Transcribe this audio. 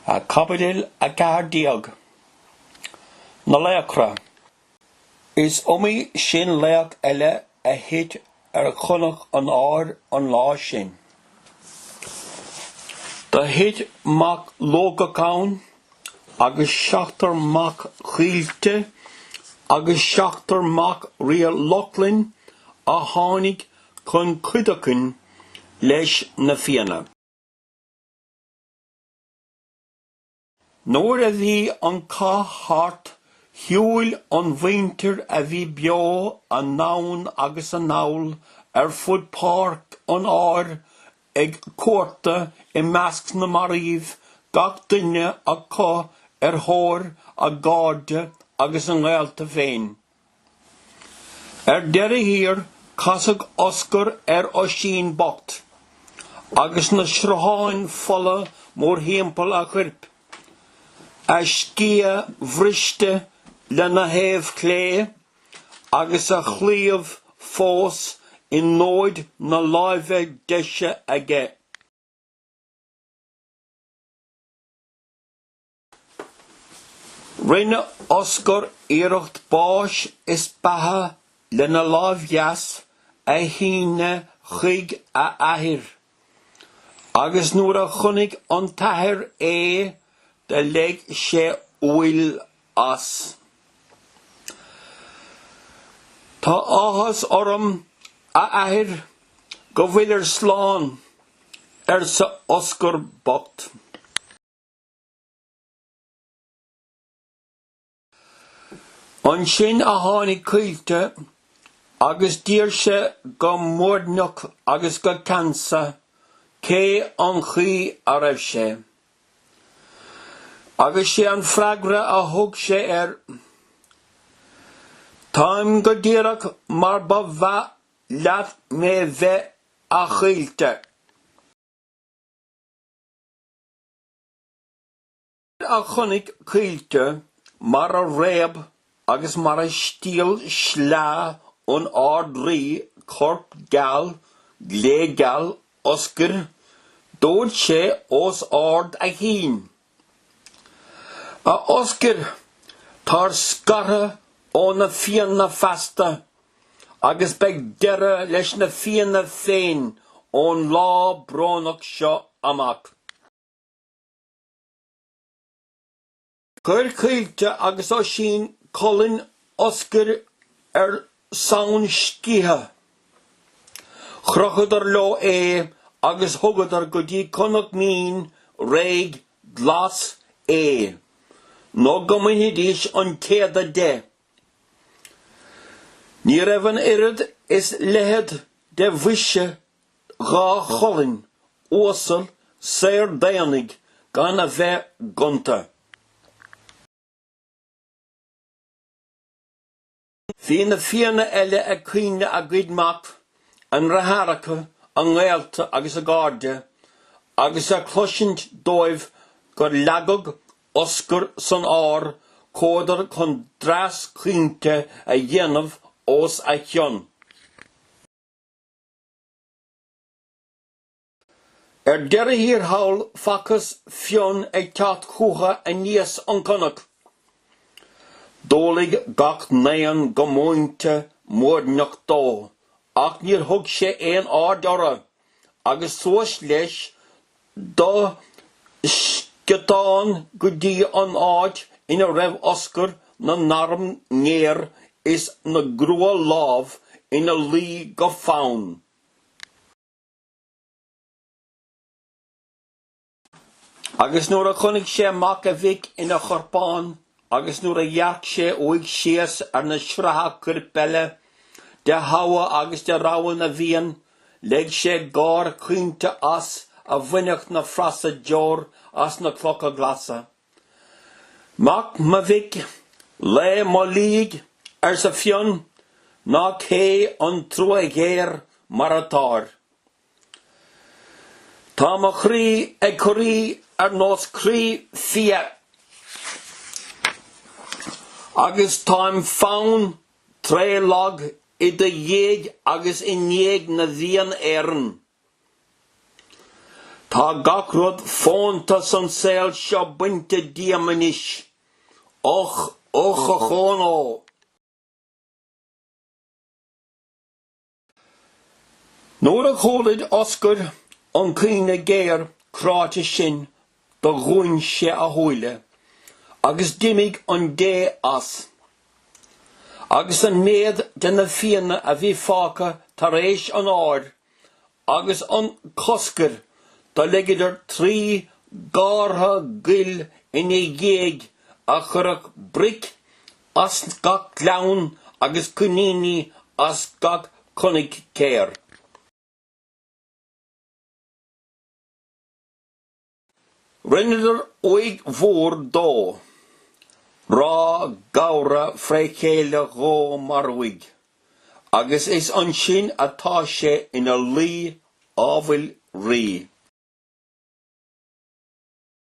Caibidil 14. Na laochra. Is iomaí sin laoch eile a thit ar chnoc an áir an lá sin. Do thit mac Lugach ann agus seachtar mac Chaoilte agus seachtar mac ríogh Lochlainn a tháinig chun cuideachain leis na Fianna. Nuair a bhí an cath thart, shiúil an mhuintir a bhí beo anonn agus anall ar fud páirc an áir ag cuartú i measc na marbh, gach duine acu ar thóir a gcairde agus a ngaolta féin. Ar deireadh thiar, casadh Oscar ar Oisín bocht agus na srutháin fola mórthimpeall a chuirp, a sciath bhriste lena thaobh chlé agus a chlaíomh fós i ndóid na láimhe deise aige. Rinne Oscar iarracht báis is beatha lena láimh dheas a shíneadh chuig a athair, agus nuair a chonaic an t-athair é do leig sé uaill as. Tá áthas orm, a athair, go bhfuilir slán, arsa Oscar bocht. Ansin a tháinig Caoilte agus d'iarr sé go muirneach agus go ceansa cé an chaoi a raibh sé. Agus sé an freagra a thug sé air, Táim go díreach mar ba mhaith leat mé bheith, a Chaoilte. Nuair a chonaic Caoilte mar a réab agus mar a stiall sleá an Ard-Rí corp geal glégeal Oscair, dúirt sé os ard a chinn, A Oscair, táir scartha ó na Fianna feasta Agus beidh deireadh leis na Fianna féin ón lá brónach seo amach. Chuir Caoilte agus Oisín colainn Oscair ar sonn scéithe. Chrochadar leo é agus thugadar go dtí cnoc mín, réidh, glas, é, nó go mbainfidís an t-éadach de. Ní raibh an oiread is leithead do bhoise dhá cholainn uasal saor d'aonaigh gan a bheith gonta. Bhí na Fianna eile ag caoineadh a gcuid mac, a ndeartháireacha, a ngaolta agus a gcairde, agus ag cloisint dóibh gur leagadh Oscar san ár, chuadar chun dreas caointe a dhéanamh os a chionn. Ar deireadh thiar thall, facthas Fionn ag teacht chútha aníos an cnoc. D'umhlaigh gach n-aon go múinte muirneach dó, ach níor thug sé aon aird orthu. agus suas leis de sciotán go dtí an áit ina raibh Oscar na n-arm ngéar is na gcruadh-lámh ina luí go fann. Agus nuair a chonaic sé mac a mhic ina chorpán agus nuair a dhearc sé uaidh síos ar na sratha cuirp eile de thogha agus de rogha na bhFiann, leig sé gáir chaointe as a bhainfeadh na frasa deor as na clocha glasa. Mac mo mhic, lao mo laoigh, arsa Fionn, nach é an trua ghéar mar atáir. Tá mo chroí ag corraí ar nós croí fia agus táim fann tréithlag i do dhiaidh agus i ndiaidh na bhFiann Éireann. Tá gach rud fónta san saol seo bainte díom anois. Och, ochón ó! Nuair a chualaigh Oscar an caoineadh géar cráite sin do dhúin sé a shúile agus d'imigh an dé as. Agus an méad de na Fianna a bhí fágtha tar éis an áir agus an choscair do leigeadar trí gártha guil ina dhiaidh a chuirfeadh bric as gach gleann agus cuiníní as gach coinigéar. Rinneadar uaigh mhór dó, Ráth Gabhra fré chéile dhó mar uaigh, agus is ansin atá sé ina luí ábhail rí.